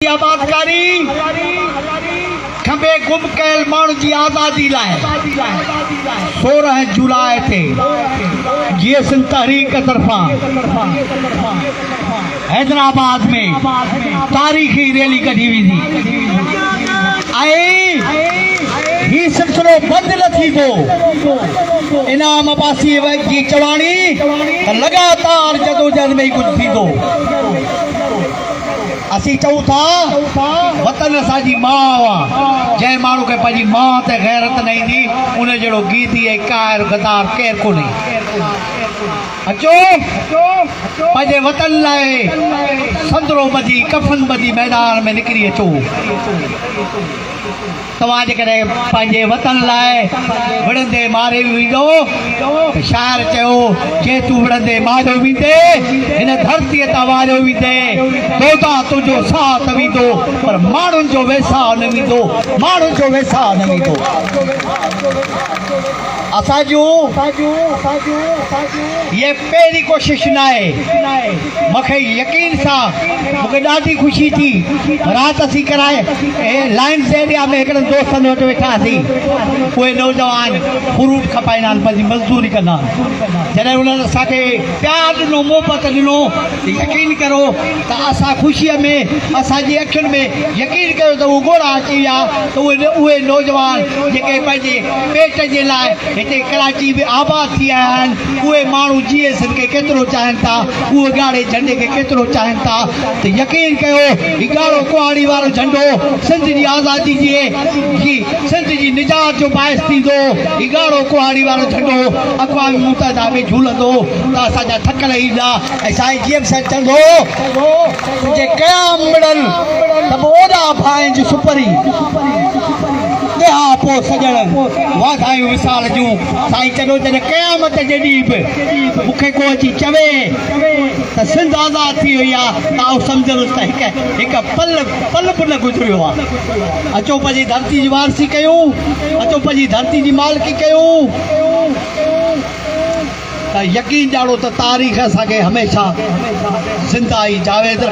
جي آبادڪاري، کٻي گم ڪيل ماڻهن جي آزادي لاء سورهن جولاء تي جيئسن تحريڪ طرفان حيدرآباد ۾ تاريخي ريلي ڪڍي ويندي ۽ هي سلسلو بند نه ٿيندو. انعام عباسي جي چواڻي ته لڳاتار جدوجهد ۾ ئي ڪجهه ٿيندو. اسين چئون ٿا وطن اسان جي ماء آ، جنهن ماڻهو کي پنهنجي ماء تي غيرت نه ايندي، ان جهڙو گيدي ۽ قاهر غدار ڪير ڪونهي. اچو پنهنجي وطن لاء سندرو ٻڌي، ڪفن ٻڌي ميدان ۾ نڪري اچو. توهان جيڪڏهن پنهنجي وطن لاء وڙهندي ماري به ويندؤ ته شاعر چيو، جي تون وڙهندي ماريو ويندي، هن ڌرتيء تان واريو ويندي، دودا تنهنجو ساهه ته ويندو پر ماڻهن جو ويساهه نه ويندو، ماڻهن جو ويساهه نه ويندو. اسان جون اهي. پهرين ڪوشش ناهي. مونکي يقين سا مونکي ڏاڍي خوشي ٿي. رات اسين ڪرائي لائنز ايريا ۾ هڪڙن دوستن وٽ ويٺا هئاسين. اهي نوجوان فروٽ کپائيندا آهن پنهنجي مزدوري ڪندا آهن. جڏهن انهن اسان کي پيار ڏنو محبت ڏنو يقين ڪرو ته اسان خوشي ۾ اسان جي اکين ۾ يقين ڪيو ته اهي ڳوڙها اچي ويا ته اهي نوجوان جيڪي پنهنجي پيٽ جي لاء هتي ڪراچي ۾ آباد ٿي آيا آهن اهي ماڻهو جي ايس اين کي ڪيترو چاهين ٿا، اهي ڳاڙهي جهنڊي کي ڪيترو چاهين ٿا ته يقين ڪيو هي ڳاڙهو ڪهاڙي وارو جهنڊو سنڌ جي آزادي جي جي سنڌ جي نجات جو باعث ٿيندو، هي ڳاڙهو ڪهاڙي وارو جهنڊو اقوام متحده ۾ جهولندو ته اسان جا ٿڪل ايندا ۽ سائين جي ايم صاحب چوندو هو ته جي قيام مڙن ته به اوڏا ڀائن جي سپري ڏيهان پوء سڄڻ واڌايون وصال جون. سائين چڏو جڏهن قيامت جي ڏينهن به مون کي ڪو اچي چوي ته سنڌ آزاد ٿي وئي آ ته آئون سمجهندس ته هڪ هڪ پل پل به نه گذريو آ. اچو پنهنجي ڌرتي جي وارثي ڪيون، اچو پنهنجي ڌرتي جي مالڪي ڪيون ته يقين ڏيارو ته تاريخ اسان کي هميشه زنده ۽ جاويد رکندي.